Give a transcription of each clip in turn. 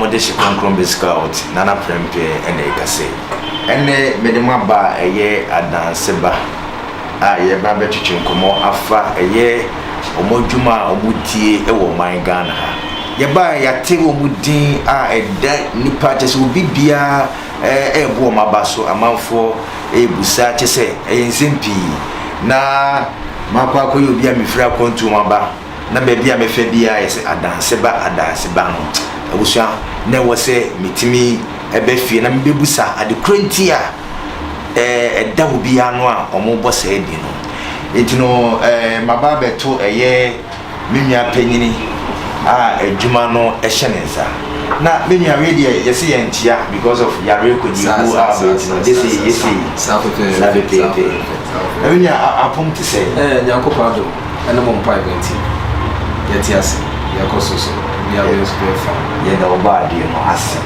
Wɔde hye kronkron besi Kaot, na na prɛmpɛ na ɛkase. Ɛnnɛ mede mo aba a ɛyɛ adanseba a yɛreba abɛtwetwe nkɔmmɔ afa ɛyɛ wɔn adwuma a wɔtie wɔ ɔman Ghana ha. Yɛbaeɛ yɛate wɔn din a ɛda nnipa kyɛ sɛ obi biara rebu wɔn aba so amanfoɔ rebisa kyɛ sɛ ɛyɛ nsɛm pii na makɔ akɔyɛ obi a mefiri akwantuo mu aba na baabi a mɛfa biara yɛ sɛ adanse ba adanse ba no abusua na ɛwɔ sɛ metumi ɛbɛ fie na mebɛbusa ade korɔ nti a ɛda obiara no a wɔbɔ saa din no nti no maba abɛto ɛyɛ me nua panyin a adwuma no hyɛ ne nsa na me nua wei deɛ yɛsɛ yɛn nkyia because of yare kɔdi wu a bɛti no gyese yɛsɛ yi saa pepeɛpɛ na me nua apom te sɛ. ɛɛ nyankopɔn adom ɛne mo mpaebɔ nti yɛte ase yɛkɔ so so obi abɛn nso bɛyɛ fa. yɛda ɔbɔ adeɛ no ase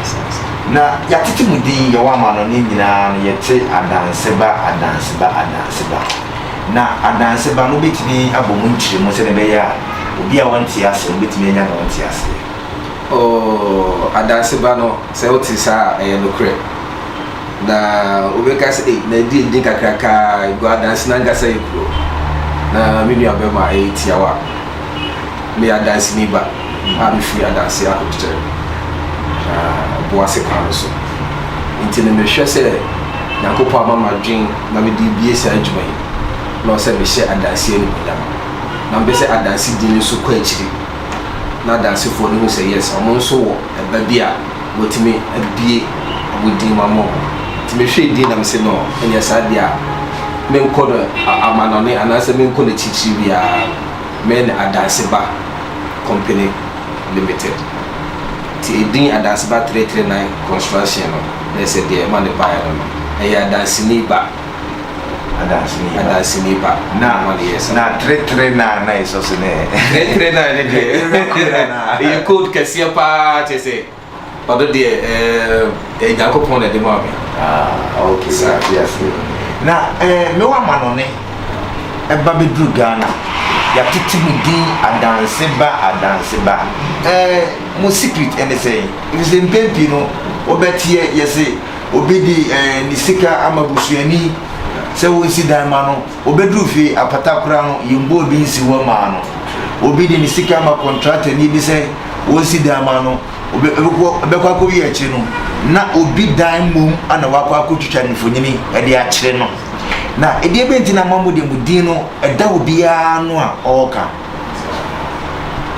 na yɛatete mu din yɛwɔ ama no ne nyinaa no yɛte adanseba adanseba adanseba. na adanseba no betumi abɔ mu nkyerɛmu sɛnea ɛbɛyɛ a obi a ɔnte ase no betumi anya nea ɔnte ase yɛ. Oo, adanseba no, sɛ wote saa a, ɛyɛ nokorɛ. Na wobɛka sɛ, Ei, na ɛdi edin kakraka ara, egu adanse no ankasa yɛ puro. Na me nuabarima, ɛyɛ tiawa. Meyɛ adanseni ba. a mifi adanse ahokyere na boase kwan no so nti no mehwɛ sɛ Nyankopɔn ama m'adwen na mede rebie saa adwuma yi na ɔsɛ mehyɛ adanse animuonyam na mepɛ sɛ adanse din no so kɔ akyiri na adansefoɔ no hu sɛ yes ɔmo nso wɔ ɛba bi a wɔtumi abie ɔmo din mu ama ɔmo nti mehwɛ din na mese no ɛnyɛ saa deɛ a menkɔ no amanɔne anaasɛ menkɔ no akyirikyiri biara. Mɛne Adanseba Company Limited nti edin Adanseba three three nine Construction no na ɛsɛ deɛ ɛma no baeɛ no no ɛyɛ Adanseni ba Adanseni ba Adanseni ba na ɛma no yɛɛ saa na three three nine na ɛsɔ so ne three three nine ne deɛ ɛyɛ code kɛseɛ paa kyɛ sɛ Ɔdɔ deɛ ɛɛ ɛyɛ Nyankopɔn na ɛde maa me. Ah okay, sɛ ate ase. Na ɛɛ me wɔ amanɔne ɛba bɛduru Ghana, yɛatete mo din adanse ba adanse ba. Ɛɛ mo secret ɛne sɛn? Efisɛ mpɛn pii no wobɛteɛ yɛse obi de ɛɛ ne sika ama busuani sɛ wɔnsi dan ma no. Obeduu fie apatakora no, yɛmbɔɔ bi nsi hɔ mmaa no. Obi de ne sika ma kɔntraktani bi sɛ ɔnsi dan ma no. Obe, obekɔ, ɛbɛkɔ akɔwie akyire no, na obi dan mmom na wakɔ akɔtwitwa no mfonini de akyere no. Na ɛdeɛ bɛn nti na ama mo deɛ mo din no ɛda obiara ano a ɔreka?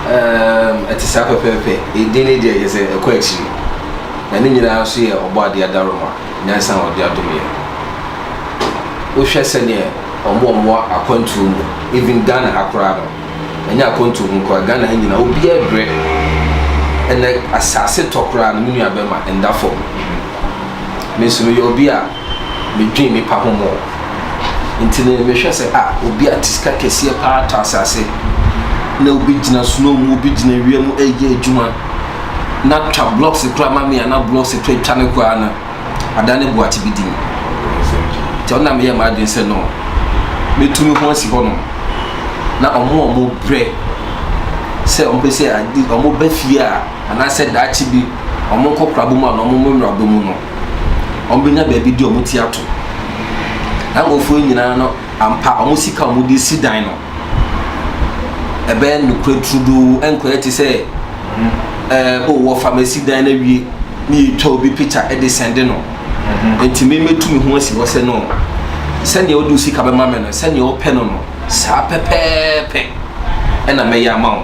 Ɛɛm, ɛte saa pɛpɛɛpɛ. Edin no deɛ kyerɛ sɛ ɛkɔ akyiri, na ne nyinaa nso yɛ Ɔbɔadeɛ adaworoma. Nyansa a ɔde adom yɛn no, wohwɛ sɛdeɛ wɔn a wɔwɔ akwantuo mu, even Ghana ha koraa no, ɛnyɛ akwantuo mu nkoa, Ghana ha nyinaa, obiara brɛ. Ɛnɛ asase tɔ koraa no, me nua bɛma ɛnda fam. Me nso meyɛ obi a medwen nipa ho mɔ. Nti ne mehwɛ sɛ a ah, obi a te sika kɛseɛ paa tɔ asase na obi gyina snow mu, obi gyina wia mu ɛyɛ adwuma. na twa blocks kura ma me a na blocks to atwa no koraa no adan ne boate bi din nti ɔna meyɛ m'adwene sɛ no mɛtu me ho asi hɔ nom na ɔmo a ɔmo brɛ sɛ ɔmo pɛ sɛ ɔmo ba fie a anaasɛ daakye bi ɔmo nkɔkora bɔ mu a na ɔmo mmra bɔ mu no ɔmo bɛnya baabi di ɔmo ti ato na nkurɔfoɔ nyinaa no Ampa, wɔn sika a wɔde resi dan no, ɛbɛyɛ nokorɛ turodoo, ɛnkɔyɛ te sɛ, ɛɛ, o, wɔfa masi dan no awie, na yɛtwa obi pikya de sɛnde no. Enti me mɛtu me ho asi hɔ sɛ, no, sɛdeɛ wode wo sika bɛma me no, sɛdeɛ wopɛ no no, saa pɛpɛɛpɛ na mɛyɛ ama wo.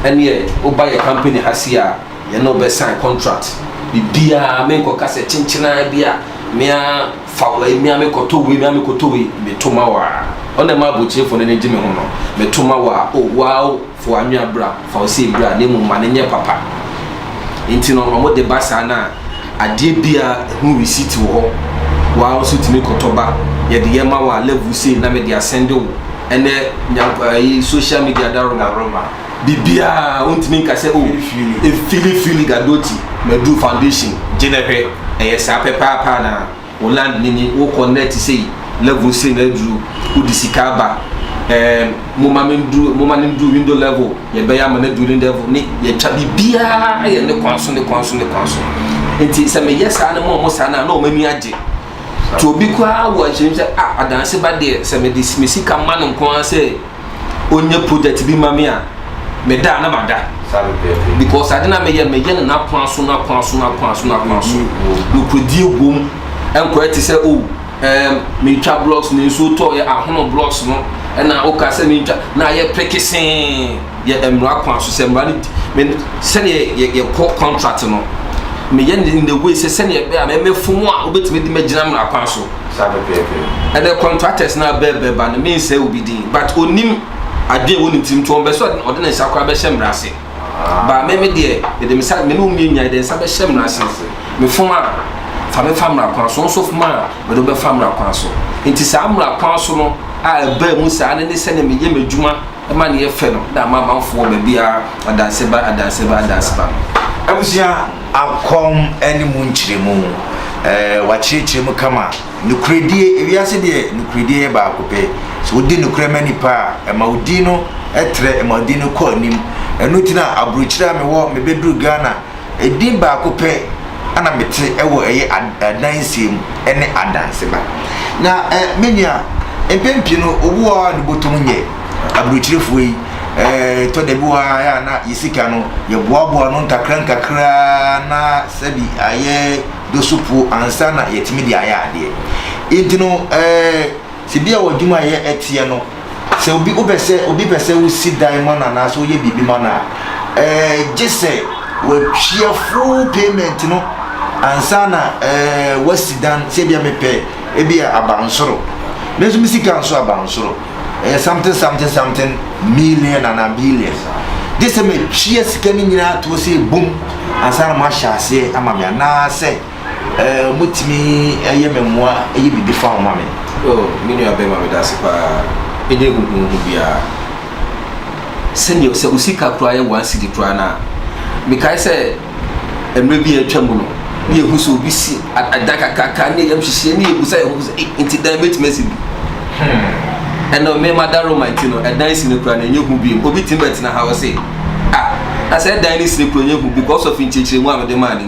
Ɛnneɛ, woba yɛn kampani ha sei a, yɛne wo bɛsan kɔntrat. Biribiara, menkɔka sɛ kyenkyenaa bi a me ara. Fa wei mia me kɔtɔ wei mia me kɔtɔ wei me to ma wo aa Ɔno na ɛma abrokyirefo n'ani gye me ho no Me to ma wo aa oh Woaa oh Fa w'anwea bra Fa wo sei bra Na mmom ma no nyɛ papa Nti no ɔmo de ba saa na Adeɛ bia ɛho receipt wɔ hɔ Woaa nso tumi kɔtɔ ba Yɛde yɛ ma wo a Level sei na mede asɛnde wo Ɛnɛ nya ayi social media daroma. biribiara wontumi nka sɛ o efili fili gadoti maduru foundation gye na hwɛ ɛyɛ saa pɛpaapa na wo land nini wokɔ net sei level sei na aduru wode sika aba ɛɛm moma me nduru moma ne nduru window level yɛbɛyɛ ama no aduru ne level ne yɛtwa biribiara yɛ ne kwan so ne kwan so ne kwan so nti sɛ meyɛ saa no ma ɔmo saa no a na ɔmo ani agye nti obi koraa wɔ nhyɛm sɛ ah adanse ba deɛ sɛ mede me sika ma no nko ara sɛ ɔnyɛ project bi ma me a meda a na mada because ade na meyɛ meyɛ no n'akoa so n'akoa so n'akoa so n'akoa so nokoredie wom nkɔyɛ te sɛ o oh, um, metwa blocks no nsuo tɔɔyɛ ahono blocks no ɛna woka sɛ mentwa na ayɛ pekesee yɛ mmara kwan so sɛ mmara no di sɛdeɛ yɛkɔ contract no meyɛ ne in the way sɛ sɛdeɛ ɛbɛyɛ a mɛmɛfo mu a wobɛtumi de magyina mmara kwan so Saa pɛpɛɛpɛ. Ɛnɛ contractors na bɛ bɛ ba no min sɛ obi din but onim adwene wɔ ne tirim to ɔbɛ sɛ ɔde ne nsa koraa bɛhyɛ mmara ase. Ba me me deɛ mede me sa me ne wo mmienu nyinaa yɛde nsa bɛhyɛ mmara ase. Me fom a fa me fa mmara kwan so nso fom a mede bɛfa mmara kwan so. Nti saa mmara kwan so no a ɛbaa mu saa ne ne sɛnea meyɛ m'adwuma ma ne yɛ fɛ no na ama amanfo wɔ baabiara adanse ba adanse ba adanse ba no. Abusua akɔm ne mu nkyerɛmu. Ɛɛ wakyerɛkyerɛ mu kama. Nukuredie, ewiase deɛ nukuredie yɛ baako pɛ. So wodi nukurɛ ma nipa a, ɛma wo din no trɛ, ɛma wo din no kɔ anim. Ɛno nti na aburokyire a mewɔ, mebɛduru Ghana. Edin baako pɛ na mete wɔ ɛyɛ adansie mu ɛne adanseba. Na ɛ menua mpɛn pii no obi wɔ hɔ a nebotom nyɛ aburokyerɛfoɔ yi ɛɛ tɔ da bi wɔ hɔ a na yɛ sika no yɛboaboa no nkakra nkakra na sɛbi ayɛ dosopuo ansa na yɛtumi de ayɛ adeɛ. Nti no ɛɛ sɛ bi a wɔ adwuma a yɛ ɛteɛ no. Sɛ obi wopɛ sɛ obi pɛ sɛ wosi dan ma no anaasɛ woyɛ biribi ma no a, ɛɛ gye sɛ wɔatua full payment no ansa na ɛɛ wɔasi dan. Sɛ ebia mepɛ ebia abansoro, me nso me sika nso abansoro, ɛyɛ something something something million anaa billion. Gye sɛ matua sika no nyinaa toɔ sɛ ebom ansa na moahyɛ aseɛ ama me anaasɛ. Eh, motumi eh, yɛ me mmoa eh, yɛ biribi fa ho ma me. Oh, me nua bɛma me dase paa, ɛnyɛ huhuhu biara. Sɛdeɛ sɛ wo sika koraa yɛ one cedi koraa no a, mekae sɛ mmerɛ bi a atwa mu no, ne yɛhu sɛ obi si adan kakraka ne yɛm hyehyeɛ ne yɛbu sɛ yɛho sɛ eh, nti dan bɛtumi asi bi. Hmm. Ɛnna me mada Roma nti no, ɛdan si no koraa na ɛnyɛ hu biom. Obi tumi bɛtena ha wɔ se, ah, na sɛ ɛdan ne si no koraa ɛnyɛ hu because of nkyerɛkyerɛmu a mede maa no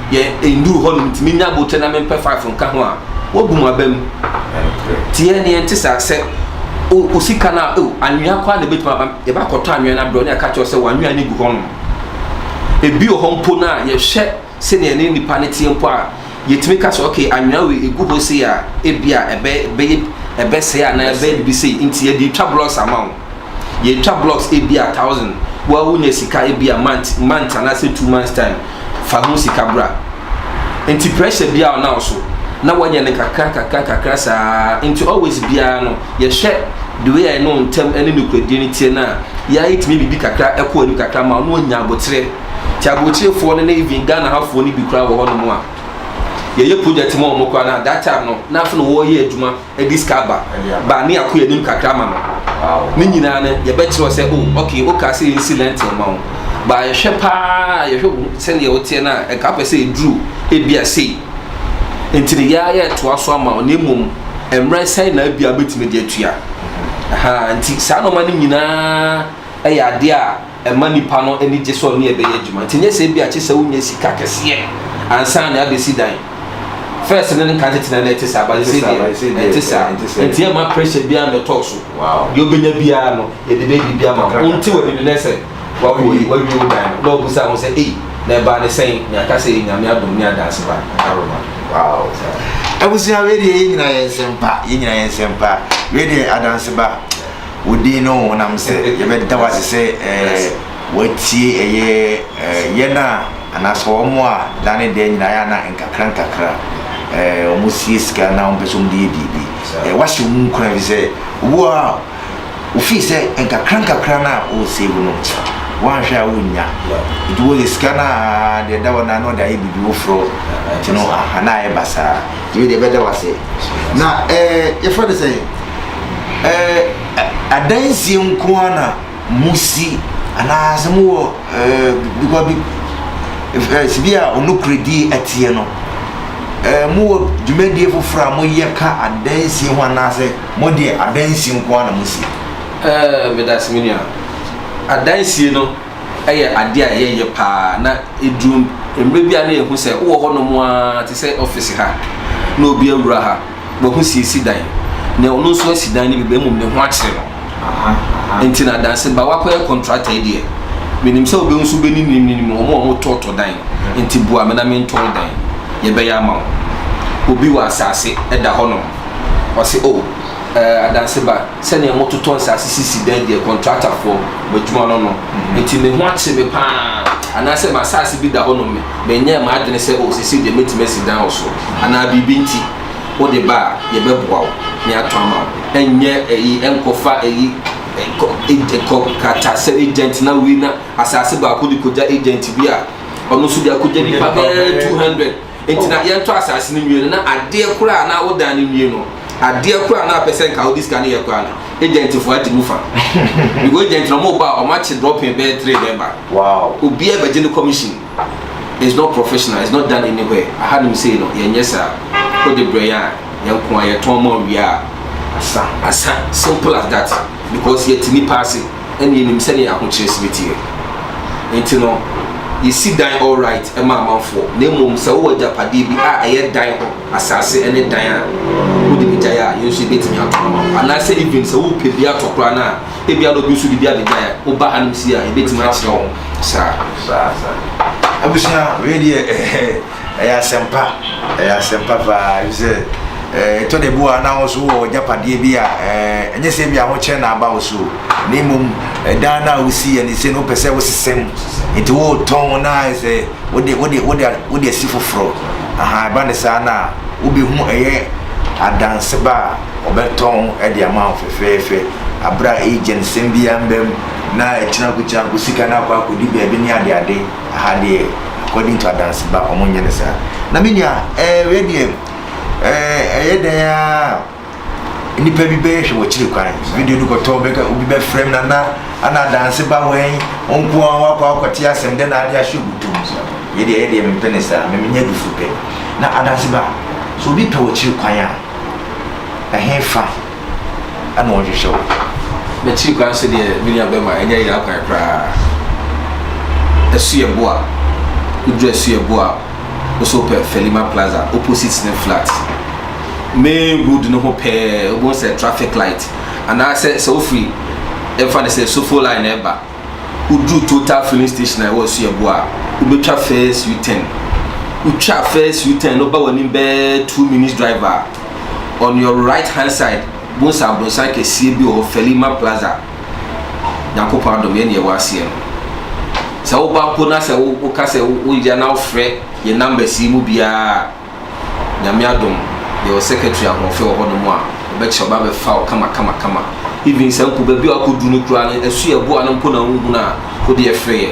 yɛ nnuru hɔ nom nti menya aboterɛ na mempɛ five nka ho a wabu mu aba mu nti yɛ neɛ nte saa sɛ osika no a oh, anwea koraa na ɛbɛtumi aba yɛbɛakɔtɔ anwea no abrɛ ne ɛka kyerɛ sɛ wanwea no gu hɔ nom ebi wɔ hɔ mpo no a yɛhwɛ sɛdeɛ ne nipa no teɛ mpo a yɛtumi ka sɛ okay anwea wei ɛgu hɔ sei a ebi a ɛbɛyɛ ɛbɛsɛe anaa ɛbɛyɛ biribi sei nti yɛde twa blɔs ama wo Yɛtwa blocks ebia thousand woa wonya sika ebia month month anaasɛ two months time fa ho sika bra nti pressure biara ɔna wo so na wanyɛ no kakra kakra kakra saa nti always biara no yɛhwɛ the way a ɛne wo ntam ɛne nokwadie no teɛ no a yɛa yɛtumi biribi kakra ɛkɔ anim kakra ma ɔno anya aboterɛ nti aboterefoɔ no ne even Ghana hafoɔ no bi koraa wɔ hɔ nom a yɛyɛ project ma ɔmo koraa na that time no na afei na wɔyɛ adwuma ɛde sika ba ba ne yɛako yɛnim kakra ma no ne nyinaa no yɛbɛkyerɛ sɛ o oh, ok wokaa sɛ yɛnsi lɛnten ma wo ba yɛhwɛ paa yɛhwɛ wo sɛdeɛ woteɛ no a ɛka pɛ sɛ ɛduru ebia sei nti no yɛa yɛtoa so ama wo na mmom mmerɛ sɛe na abia bɛtumi de atua nti saa nɔma no nyinaa ɛyɛ adeɛ a ɛma nnipa no ani gye sɛ ɔne ɛbɛyɛ adwuma nti nyɛ sɛ ebia kyesɛ wonya sika kɛseɛ ansa na abɛsi dan first no nka tete na na ɛte saa base deɛ ɛte saa nti ɛma pressure biara mɛtɔɔ so deɛ ɔbɛnya biara no yɛde bɛdi bi ama wo nte wɔ nini nɛ sɛ wawie wo dan no na ɔbusa ho sɛ ei na ɛbaa ne sɛn na aka sɛ yɛ nyame adom ne adanse ba aroma wow abusua wei deɛ yɛ nyina yɛ nsɛmpa yɛ nyina yɛ nsɛmpa wei deɛ adanse ba Wo din ne wo honam sɛ yɛbɛda wo ase sɛ woatie ɛyɛ yɛn a anaasɛ wɔn a da ne da nyinaa yɛ na nkakra nkakra wɔsie sika na wɔn pɛ sɛ wɔn de yɛ biribi wahyɛ wɔn nkuran bi sɛ wo a wofii sɛ nkakra nkakra na wɔresave no wɔanhwɛ a wɔnnya nti wɔyɛ sika no a deɛ ɛda wɔn na na wɔde ayɛ biribi foforɔ nti no aha na ayɛ basaa yɛwei deɛ ɛbɛda wase na ɛɛ yɛfrɛ no sɛn ɛɛ adansie nko ara na mo si anaasɛ mo wɔ ɛɛ bikɔ bi ɛɛ sibi a ɔnokorɛdie ɛteɛ no ɛɛ mo wɔ dwumadie foforɔ a moyɛ ka adansie ho anaasɛ mo deɛ adansie nko ara na mo si. Ɛɛ medase me nua adansie no. yɛ adeɛ a yɛyɛ paa na ɛduru mmerɛ bi a na yɛhu sɛ wowɔ hɔnom a te sɛ ɔfese ha na obi awura ha wahu si esi dan na ɔno nso asi dan no bi bɛ mmom ne ho akyere no nti na adanse ba wakɔyɛ kɔntrata yi deɛ menim sɛ wobɛhu nso bɛni nim ne nim ɔmo a ɔmo tɔɔtɔ dan nti bua me na mentɔn dan yɛbɛyɛ ama wo obi wɔ asase ɛda hɔnom ɔse o oh, eh, adanse ba sɛnea mototɔ nsase sisi dan di yɛ kɔntratafoɔ mo adwuma no no nti me ho akye me pa ara anaasɛ m'asase bi da hɔnom me menyɛɛ m'adwene sɛ o seesei deɛ mɛtumi asi dan wɔ so anaa biribi nti wode ba a yɛbɛboa wo na yɛatɔ ama wo ɛnyɛ ɛyi ɛnkɔfa ɛyi ɛkɔ ɛkɔ kratasɛ agent na wei na asase baako de kɔgya agent bi a ɔno nso de akɔgya nipa bɛɛ 200 Enti na yɛntɔ asase no nwie no, na adeɛ koro a na wodan no nwie no, adeɛ koro a na apɛ sɛ nka wode sika no yɛ koraa no, agentfoɔ agye mu fa. Because agent no wɔn ba a, wɔn akye dropping bɛyɛ three na ɛba. Wow. Obiara bɛgye ne commission. It's not professional, it's not done anywhere. Ahanom sei no, yɛnyɛ saa. Wode brɛ yɛn a, yɛn nko ara, yɛtɔn ma wo wie a, asa. Asa. Simple as that. Because yɛte nnipa ase. ɛna yɛnim sɛdeɛ ahokyerɛ sini teɛ. Enti no, yɛsi dan all right ma amanfoɔ, na mmom sɛ wowɔ agyapadeɛ bi a ɛyɛ dan hɔ asase ne dan a wode bɛgyae a, yɛn nso yɛbɛtumi atɔn ama wo. Anaasɛ even sɛ wopɛ bi atɔ koraa no a, ebia na obi nso de bi abɛgyae a, woba hanom sie a, yɛbɛtumi akyerɛ wo saa. Saa, saa. Abusua, wei deɛ, eh, eh. Ɛyɛ asɛmpa, ɛyɛ asɛmpa paa, efisɛ ɛtɔ da bi wɔ na wo nso wɔ agyapadeɛ bi a ɛnyɛ sɛ bi ahokyerɛ na aba wo so na mmom dan no a wosi yɛ ne sɛ no wopɛ sɛ wosesɛ mu nti wotɔn na sɛ wode wode wode wode asi foforɔ aha ɛba ne saa na wobɛhu ɛyɛ adanseba a ɔbɛtɔn de ama wo fɛfɛɛfɛ aberɛ a agent sɛm biara mbam na ɛkyena kokyena nko sika no akɔ akɔdi baabi ne adeade Aha deɛ according to Adanseba wɔn nyɛ no saa. Na me nua ɛɛ wei deɛ ɛɛ ɛyɛ dɛn aa nipa bi bɛyɛ hwɛ wɔ kyiri kwan video no kɔtɔ bɛka obi bɛ frɛ na na ana Adanseba wɛn nko ara wakɔ akɔte asɛm dɛ na ade ahyɛ ogu tom yɛ deɛ yɛ deɛ mempɛ ne saa me menyɛ dufo pɛ na Adanseba so obi pɛ wɔ kyiri kwan a ɛhe fa. na ɔnhwehwɛ wo. N'akyiri koraa nso deɛ, me nua bɛrima, ɛnyɛ yera kwan koraa. Ɛso yɛ bo a, woduru ɛso yɛ bo a, wo nso wopɛ Felima Plaza opposite ne flat. Main road no ho pɛɛ, wobɛhu sɛ traffic light, anaasɛ sɛ wofiri, ɛmfa no sɛ Sofo line na ɛba, woduru Total filling station a ɛwɔ ɛso yɛ bo a, wobɛtwa first U-turn. Wotwa first U-turn no ba w'anim bɛɛ two minutes drive a, on your right hand side bohu sɛ abronsan kɛseɛ bi wɔ hɔ Felima Plaza Nyankopɔn adom yɛne yɛwɔ aseɛ no sɛ woba mpo na sɛ woka sɛ woyɛ na wofrɛ yɛ numbers yi mu biara Nyame adom yɛwɔ secretary ahoɔfɛ wɔ hɔ no mu a ɔbɛkyerɛ ɔba bɛfa wo kama kama kama even sɛ mpo baabi a wakɔdu no koraa no ɛso yɛ boa no mpo na wohunu a wode ɛfrɛ yɛ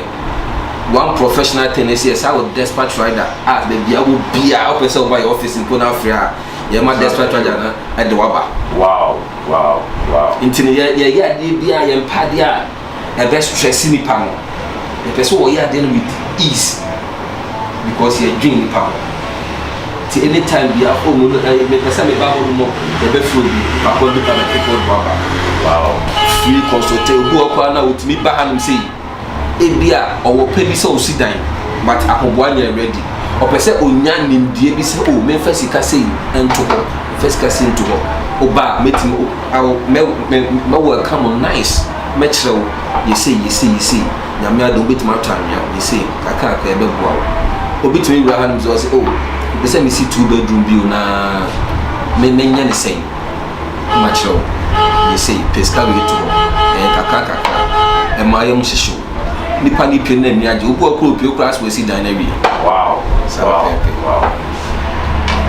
one professional tennis yɛ saa wɔ despatch rider a baabi a wɔ biara wopɛ sɛ woba yɛ office mpo no afrɛ a yɛma despatch rider no ɛde waba wow wow wow nti no yɛyɛ adeɛ bi a yɛmpa adeɛ a ɛbɛ stress nipa no yɛpɛ sɛ wɔyɛ adeɛ no with ease because yɛdwen nipa ho nti anytime bia oh no eh, mepɛ sɛ meba hɔ no mɔ yɛbɛfrɛ obi bakɔ bi ka bɛkekɔ de waba wow free consultation obi wɔ kɔ a na wotumi ba hanom sei Ebia ɔwɔ pɛ bi sɛ osi dan but ahoboa nyɛ ready. Ɔpɛ sɛ onya nimdeɛ bi sɛ oh memfa sika sei nto hɔ, memfa sika sei nto hɔ. Woba a mɛtumi oh I will mɛ mɛ mɛ welcome wo nice, mɛkyerɛ wo yɛ sei yɛ sei yɛ sei. Nyame adom wobɛtumi atɔ anwea yɛ sei kakra kakra ɛbɛboa wo. Obi tumi wura hanom sɛ ɔse oh mepɛ sɛ mesi two bedroom bi o na me menyɛ ne sɛn. makyerɛ wo deɛ sei, pɛ sika wei to hɔ, ɛyɛ kakra kakra, ɛma ayɛ mu hyehye wo. Nipa ne pie no ani agye, wobu akora opie koraa sɛ wasi dan no awie. Wow, Saa wow, pɛpɛ. wow.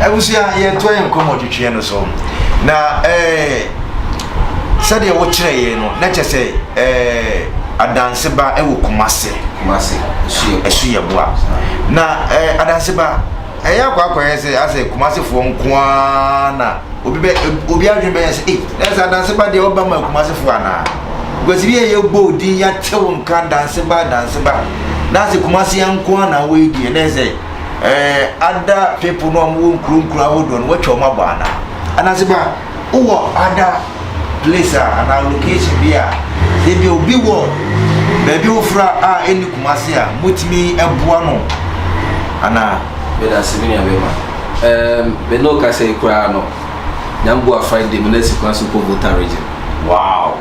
Abusua, yɛntoa yɛn nkɔmmɔ twetweɛ no so. Na eh, sɛdeɛ wokyerɛ yɛn no, na kyɛ sɛ eh, adanseba wɔ Kumase. Kumase, ɛsu yɛ boa. Ɛsu yɛ boa. Na eh, adanseba, Ɛyɛ akwakoraa sɛ asɛ Kumasi foɔ nko ara na obi bɛ obi adwene bɛyɛ sɛ ei na sɛ adanse ba deɛ ɔba ma Kumasi foɔ anaa because bi yɛ yɛ bɔ odin ya tew nka adanse ba adanse ba na sɛ Kumasi nko ara na wɔyɛ deɛ na sɛ ɛɛ ada people no a wɔwɔ nkuro nkuro ahodoɔ no wɔatwa wɔn abɔ anaa adanse ba. Wowɔ ada place a anaa location bi a ebi obi wɔ baabi foforɔ a ɛnni Kumasi a motumi boa no anaa? Medase me nua bɛma. Um, me no kasa yi koraa no, Nyamboa Friday me na si kwan so kɔ Volta region. Wow.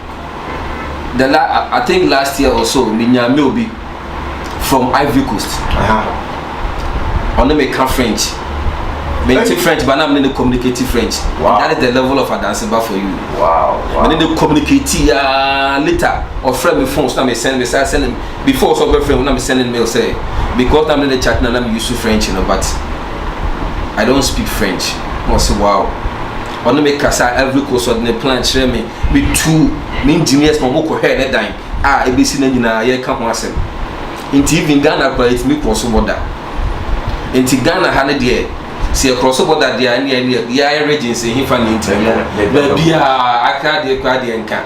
the la I think last year or so me nya mail bi from Ivory Coast ɔne me ka French me nti French ba na me ne ne communicate French wow. that is the level of adanseba for you wow, wow. me ne ne communicate ya ah, later ɔfrɛ me phone so na me send me sa send before so ɔbɛfrɛ me na me send mail sɛ because na me ne ne chat na na me use French you know, but I don't speak French na ɔse wow ɔne me kasa Ivory Coast ɔde ne plan kyerɛ me Metuu me engineers ma wɔkɔ hwɛɛ ne dan a ebesi na nyinaa yɛka ho asɛm. Nti even Ghana koraa yɛtumi krɔso bɔda. Nti Ghana ha no deɛ sɛ yɛkrɔso bɔda deɛ a ɛne ɛne yɛ yɛayɛ regions ɛhefa ne nti no baabi a Accra deɛ koraa deɛ nka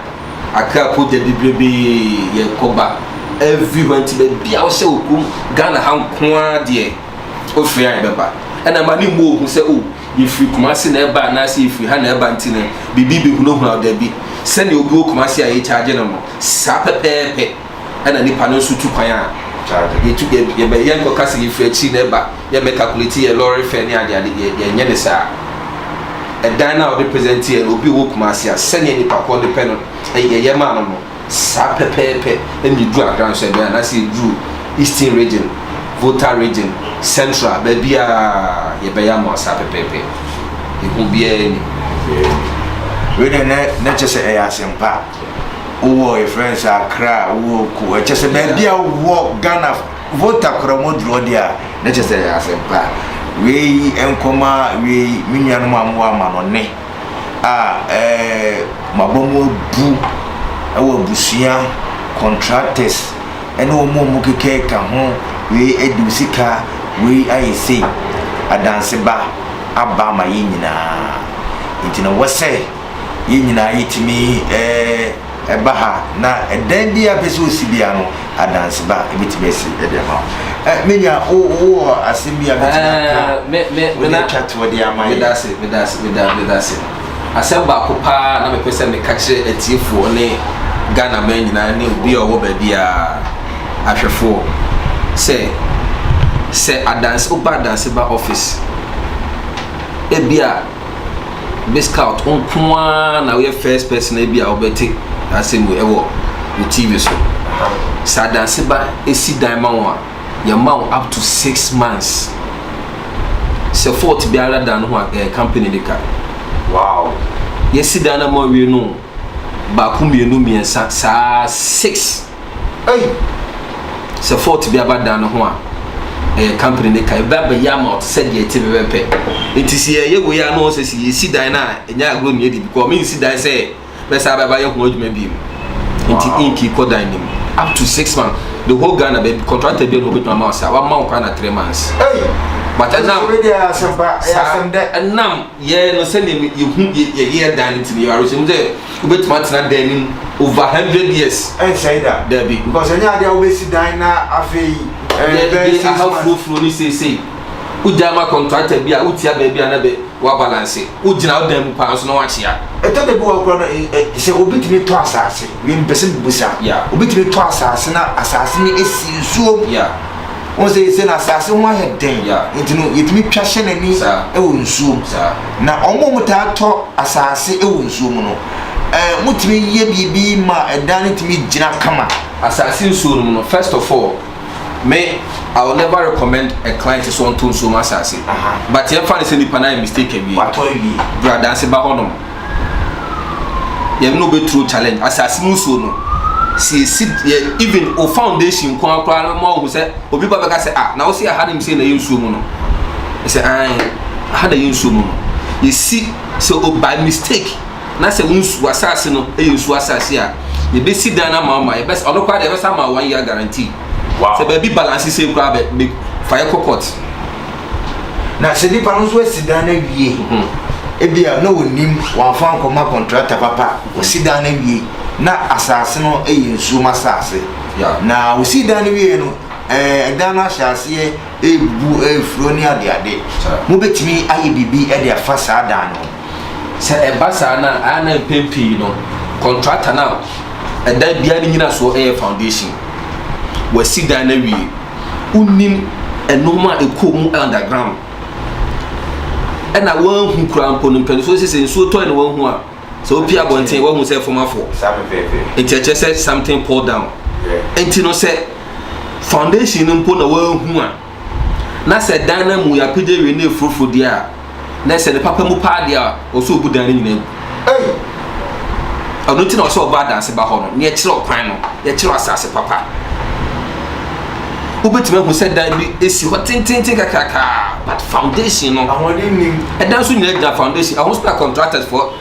Accra po da bibrebee yɛkɔ ba everywhere nti baabi a wohyɛ wɔ kurom Ghana ha nko ara deɛ wofiri a yɛbɛba ɛna ma ne mmɔ ohu sɛ o oh, Yɛfiri Kumasi na ɛba anaasɛ yɛfiri ha na ɛba nti no, biribi bɛhunahuna wo? Dabi. Sɛdeɛ obi wɔ Kumasi a yɛkyaagye no no, saa pɛpɛɛpɛ na nipa no nso tu kwan a yɛtu, yɛbɛ, yɛnkɔka sɛ yɛfiri akyiri na ɛba, yɛmmɛ calculate yɛn lɔre fare ne adeade, yɛ, yɛnyɛ no saa. Ɛdan no a wode present yɛn no, obi a ɔwɔ Kumasi a, sɛdeɛ nipa korɔ no pɛ no, yɛyɛ maa no no. Saa pɛpɛɛpɛ na yɛduru Accra nso ɛbɛn anaasɛ yɛduru Eastern Region, Volta Region, Central, baabiara yɛbɛyɛ ama wo saa pɛpɛɛpɛ. Ehu biara ni. Wei deɛ na na kyɛ sɛ ɛyɛ asɛmpa. Wowɔ yɛ friend sɛ Accra, wowɔ Ko, ɛkyɛ sɛ baabi a wowɔ Ghana Volta kora mu duro deɛ a na kyɛ sɛ ɛyɛ asɛmpa. Wei nkɔma wei me nuanom a mowɔ amanɔne. a wɔaba mu abu wɔ abusua, contractors ne wɔn a wɔkeka ka ho, wei adi wo sika, wei ayɛ sei. Adanse ba aba ama yɛn nyinaa. Enti na ɛwɔ sɛ yɛn nyinaa yɛtumi ɛɛ. Ɛba ha na ɛdɛn biara pɛ sɛ ɔsi biara no, adanse ba a, ɛbɛtumi asi de ama wo. Eh, me nua, wo, wowɔ asɛm bi a bɛtumi aka, wode atwa toɔ de ama yɛ. Medase, medase, meda, medase. Asɛm baako paa na mepɛ sɛ meka kyerɛ atiefoɔ ne Ghana man nyinaa ne obi a ɔwɔ baabiara, ahwɛfoɔ, sɛ, sɛ adanse, woba adanse ba office, ebia. bɛ scout nko ara na woyɛ first person bi a wobɛte asɛm wei wɔ wo tv so sɛ adanse ba si dan ma wɔn a yɛma wo up to six months sɛ fault biara da no ho a ɛyɛ company de ka wow yɛsi dan no ma wie no baako mmienu mmiɛnsa saa six Ei! Sɛ fault bi aba dan no ho a, ɛyɛ company ne ka. Ɛba bɛyɛ ama ɔte sɛ deɛ ɛte pɛpɛpɛ. Nti sɛ yɛyɛ wei a na ɔsɛ sɛ yɛsi dan no a ɛnyɛ agorɔ mu yɛdi because mensi dan sɛ mɛsan bɛba yɛ ho adwuma bio. Nti ink kɔ dan no mu up to six months. The whole Ghana baabi contractor bi a na ɔbɛtumi ama wo saa wama wo kwan na three months. Ei! But ɛnam ɛnam Yɛɛ no sɛnea yehu yɛyɛ dan no nti no. Yɛwɔ awerɛhyɛmu sɛ wobetumi atena dan no mu over hundred years. Ɛnsɛe da. Dabi. Because ɛnyɛ ade a wobesi dan na afei ɛbɛyɛ six months. Yɛde aha furofuro no seesei. Wogyae ma kɔntrakta bi a wotua baabi a na bɛ wɔabalanse. Wogyina wo dan mu paa nso na wɔakyea. Ɛtɔ da bi wɔ hɔ koraa no, ɛ, ɛ, sɛ obi tumi tɔ asase, wei mepɛ sɛ mibisa. Yeah. Obi tumi tɔ asase na asase no si nsuom. Yeah. Wohu sɛ sɛ n'asase ho ayɛ den nti no yɛtumi twa hyɛ n'ani wɔ nsuo mu. Na wɔn a wɔtaa tɔ asase wɔ nsuo mu no, wɔtumi yɛ biribi ma ɛdan no tumi gyina kama. Asase nsuo no mu no, first of all, me I will never recommend a client sɛ ɔntɔ nsuo mu asase. But yɛmfa no sɛ nipa no ayɛ mistake awie, bra danse ba hɔnom. yɛne no bɛturo challenge asase mu nsuo no si esi yɛ even o foundation nko ara koraa no ma ɔhu sɛ obi ba bɛka sɛ ah na wosi aha nim sɛ na yɛ nsuo mu no sɛ an aha na yɛ nsuo mu no yɛsi sɛ o by mistake na sɛ wo nsuo asase no yɛ nsuo asase a yɛbɛsi dan no ama ama yɛbɛsa ɔno koraa deɛ yɛbɛsa ama one year guarantee sɛ baabi balance sei koraa bɛ fa yɛ kɔ court na sɛ nipa no nso asi dan no awie mhm. ebi a na onim wɔnfa nkɔma kɔntrata papa osi dan no awie na asaase no yɛ nsuom asaase na osi dan no wie no ɛɛ dan no ahyɛ aseɛ ebu efuro ne adeade mo betumi ayɛ biribi de afa saa dan no sɛ ɛba saa na ayɛ na mpɛn pii no kɔntrata na ɛdan biara ne nyina soɔ ɛyɛ foundation wasi dan no awie. wonnim nnoɔma a ɛkɔ mu underground ɛna wɔahu kura mpo no mpanifoɔ sɛ sɛ nsuo tɔe na wɔahu a sɛ wopi abɔnten wɔahu sɛ fam afɔ nti ɛkyerɛ sɛ something pull down nti no sɛ foundation no mpo na wɔahu a na sɛ dan no mu yɛapagya wie na ɛfurofuro deɛ a na sɛ ne papa mu paa deɛ a, ɔsɛ ɔbu dan no nyinaa gu. Ei! Ɛno nti na ɔsɛ ɔba adanse ba hɔ no, na yɛkyerɛ ɔkwan no, yɛkyerɛ asase papa. Wobɛtumi ahu sɛ dan bi ɛsi hɔ tententen kakrakaa, but foundation no. Ahoɔden nim. Ɛdan so nyinaa gyina foundation, ɛho so na contractors foɔ.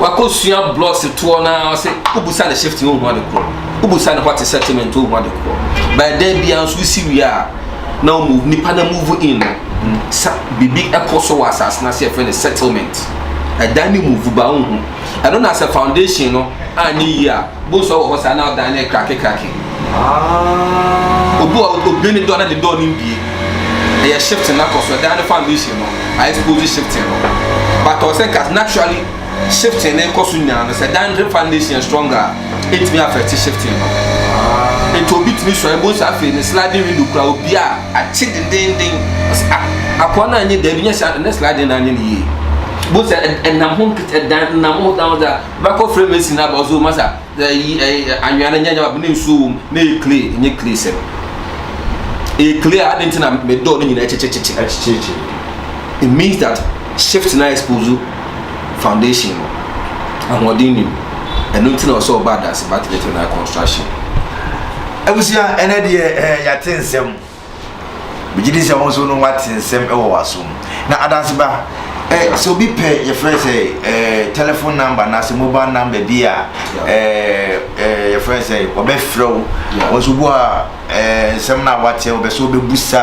wakɔsua blocks toɔ no ara sɛ wobusa ne shift no wohu ade korɔ wobusa ne hɔte settlement wohu ade korɔ bɛɛ da biara nso wosi wie a na wɔn nipa na move in no sa biribi ɛkɔ so wɔ asase no ase yɛfrɛ no settlement ɛdan ne move ba wohu ɛno na sɛ foundation no anyɛ yie a bonsu wɔ hɔ saa na ɔdan ne krake krake obi wɔ odwen ne dɔ na ne dɔ ne mbie ɛyɛ shifting na kɔ so ɛdan ne foundation no a expose shifting no but ɔsɛ nka naturally shifting ne kɔ so nyinaa no sɛ dan ne foundation stronger a ɛtumi affect shifting no nti obi tumi sɔre bo nsa afei ne sliding window kura obi a akye dendenden akoa no anyɛ daabi nyɛ sɛ ne sliding no anyɛ ne yie bo sɛ ɛnam ho ɛdan nam ho dan ho sɛ bɛkɔ frɛ mesi no aba ɔsɛ ɔma sa Ɛ yi ɛ anwea no nyɛ nyɛ baako na nsuo wɔ mu na ɛyɛ clay ɛnyɛ clay sɛ ɛyɛ clay a adan ti na mɛ dɔɔ no nyinaa ɛkyekyekye ɛkyekyekye it means that shift na expose foundation no ahoɔden nim ɛno nti na ɔsɛ ɔba adanse battery to na construction. Abusua ɛnɛ deɛ ɛɛ yate nsɛm megye di sɛ wɔn nso no wate nsɛm wɔ w'asom na adanseba eh, sɛ obi pɛ yɛfrɛ sɛ eh, telephone number anaasɛ mobile number bi a eh, eh, yɛfrɛ sɛ wɔbɛfrɛ wo wɔn nso bu a eh, nsɛm no a wate wɔbɛ sɛ wɔbɛbusa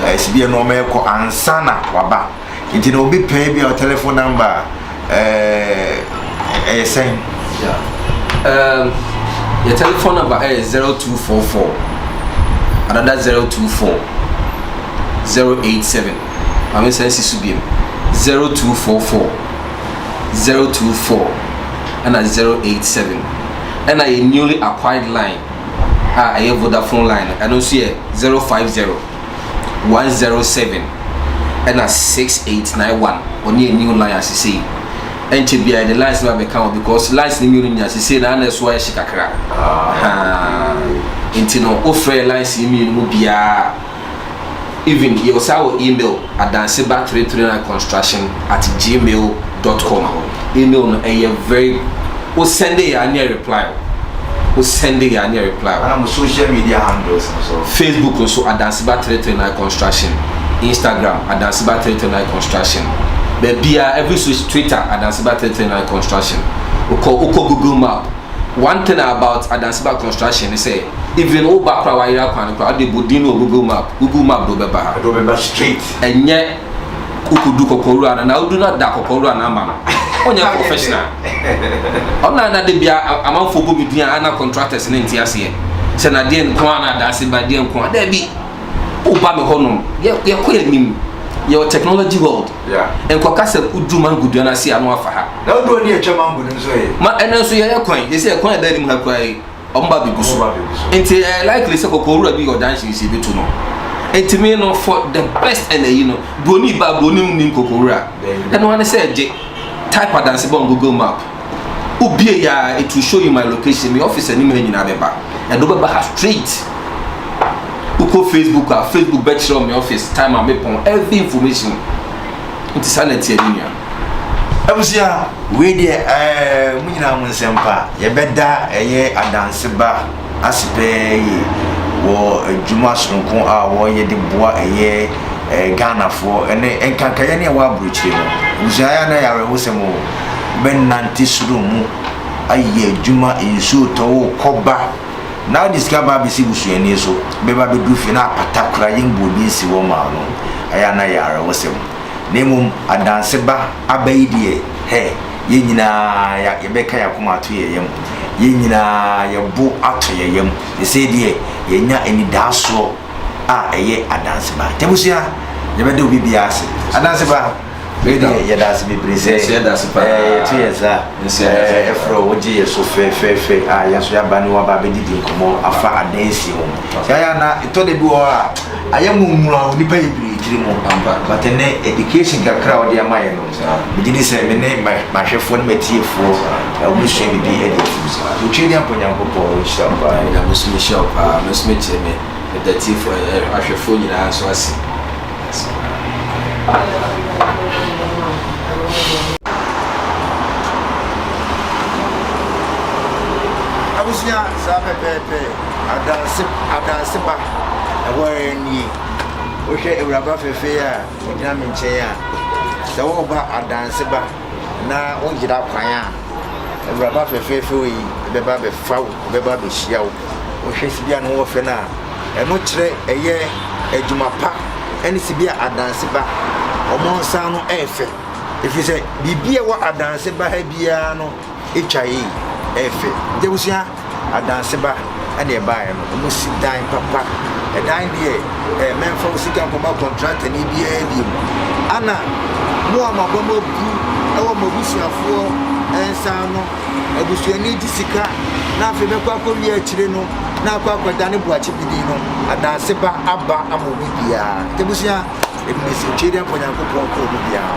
eh, sibia no wɔmɛkɔ ansa na waba nti na obi pɛ ebia telephone number a ɛyɛ sɛn. yɛ telephone number ɛyɛ zero two four four another zero two four zero eight seven maame nsa nsi so biem zero two four four zero two four ɛna zero eight seven ɛna yɛ newly acquired line a ɛyɛ vodafone line ɛno nso yɛ zero five zero. one zero seven ɛna six eight nine one ɔne yɛ new line asesei ɛnkyɛ bia yɛde lines no abɛka ho because lines no mmienu nyina asesei na ana ɛso ayɛ hye kakra ah. nti no wofrɛ lines no mmienu mu biara even yɛwɔ saa wɔ email adanseba 339 construction at gmail dot com Email no ɛyɛ very wo send yɛ a ne reply o wo send yɛ a ne reply o. Ana mo social media handles no so. Facebook nso Adanseba three three nine construction Instagram Adanseba three three nine construction baabiara every social Twitter Adanseba three three nine construction okɔ okɔ Google map one thing about Adanseba construction ne sɛ even wo ba koraa wayera kwan no koraa ɔde bɔ din no wɔ Google map Google map de wobɛba ha. Ɛde wobɛba straight. Ɛnyɛ. okodu kɔkɔwura no na odu na da kɔkɔwura no ama no ɔnyɛ professional ɔna na de bia amanfo bɔ bi dua ana contractors ne nte aseɛ sɛ na deɛ nko a na adaase ba deɛ nko a daabi woba me hɔ nom yɛkɔ yɛ nim yɛwɔ technology world nkɔka sɛ wodu mango dua no ase a no afa ha na wodu ɔde atwa mango no nso yɛ ma ɛnɛ nso yɛyɛ kwan yɛsɛ yɛ kwan a ɛda anim ha koraa yi Wɔn ba bɛgu so. Nti ɛyɛ likely sɛ kɔkɔwura bi yɛ ɔdan siesie bɛtu no. Nti me no for the best ɛna yi no, buroni ba buroni nim kɔkɔwura. Ɛno ara ne sɛ gye type adanse bɔ Google map. Wobie ya a, it will show you my location, me office anim ha nyinaa bɛba. Ɛde wobɛba ha straight. Wokɔ Facebook a, Facebook bɛkyerɛ wo me office, time a mepɔn, every information. Nti saa na ɛteɛ me nua. abusua wei deɛ ɛɛ mo nyinaa mo nsɛm pa yɛbɛda ɛyɛ adanse ba ase pɛɛ yie wɔ adwuma soronko a wɔyɛ de boa ɛyɛ ɛɛ ghanafoɔ ɛne nkankaeɛ ne ɛwɔ aburokyire no abusua yɛ anan yɛ awerɛhosɛm o bɛnante soro mu ayɛ adwuma nsuo tɔ o kɔba na wode sika ba abɛsi busuani so bɛba bɛduru fie na apata kora yɛmbuo bi nsi hɔ maa no ɛyɛ anan yɛ awerɛhosɛm Na mmom adanse ba aba yi deɛ, hɛ, yɛn nyinaa yɛbɛka yɛn akoma ato yɛn yam, yɛn nyinaa yɛn bo atɔ yɛn yam, sesei deɛ yɛanya anidaasoɔ a ɛyɛ adanse ba. Nti abusua, yɛbɛda obi biara ase. Adanse ba, wei deɛ yɛda ase bebree sɛ yɛto yɛn nsa frɛ wo, wogye yɛn so fɛfɛɛfɛ a yɛn nso yɛaba ne wo aba abɛdidi nkɔmmɔ afa adansie ho. Yaya, na ɛtɔ da bi wɔ hɔ a, Ayɛ mo nwura o nipa yɛ birii tiri mo. Ampa but ɛnɛ education kakra a ɔde ama yɛ no me gye di sɛ me ne m'ahwɛfoɔ ne m'atiefoɔ ɔmo sua bibi ɛde atim saa so Twɛdeɛ Ampa Nyankopɔn nhyira wo paa. Ɛna me nso me hyira wo paa me nso me kyerɛ me me da atiefoɔ ahwɛfoɔ nyinaa nso ase ase paa. Abusua saa pɛpɛɛpɛ. Adanse adanse ba, ɛhɔ ara nie. Wohwɛ awuraba fɛfɛɛ a ɔgyina me nkyɛn a, sɛ woreba adanse ba na woyera kwan a, awuraba fɛfɛɛfɛ yi bɛba bɛfa wo, bɛba bɛhyia wo. Wohwɛ sibi a ne ho ɔfɛ no a, ɛno kyerɛ ɛyɛ adwuma pa ɛne sibi a adanse ba. Wɔn nsa no ɛyɛ fɛ, ɛfiri sɛ biribi a ɛwɔ adanse ba ha biara no atwa yie, ɛyɛ fɛ. Nti abusua. Adanseba ɛna ɛbaeɛ no ɔmo si dan papa ɛdan deɛ ɛɛ mɛnfa wo sika nkɔma kɔntrata ni biara bi mu ana mo a mo aba mo abu ɛwɔ mo abusuafoɔ ɛnsa no abusuani gye sika na afei bɛkɔ akɔ wie akyire no na akɔ akɔda ne boakye bidin no adanseba aba ama obi biara tebusua ebi na esi nkyɛn de akɔnyankopɔn kɔ obi biara.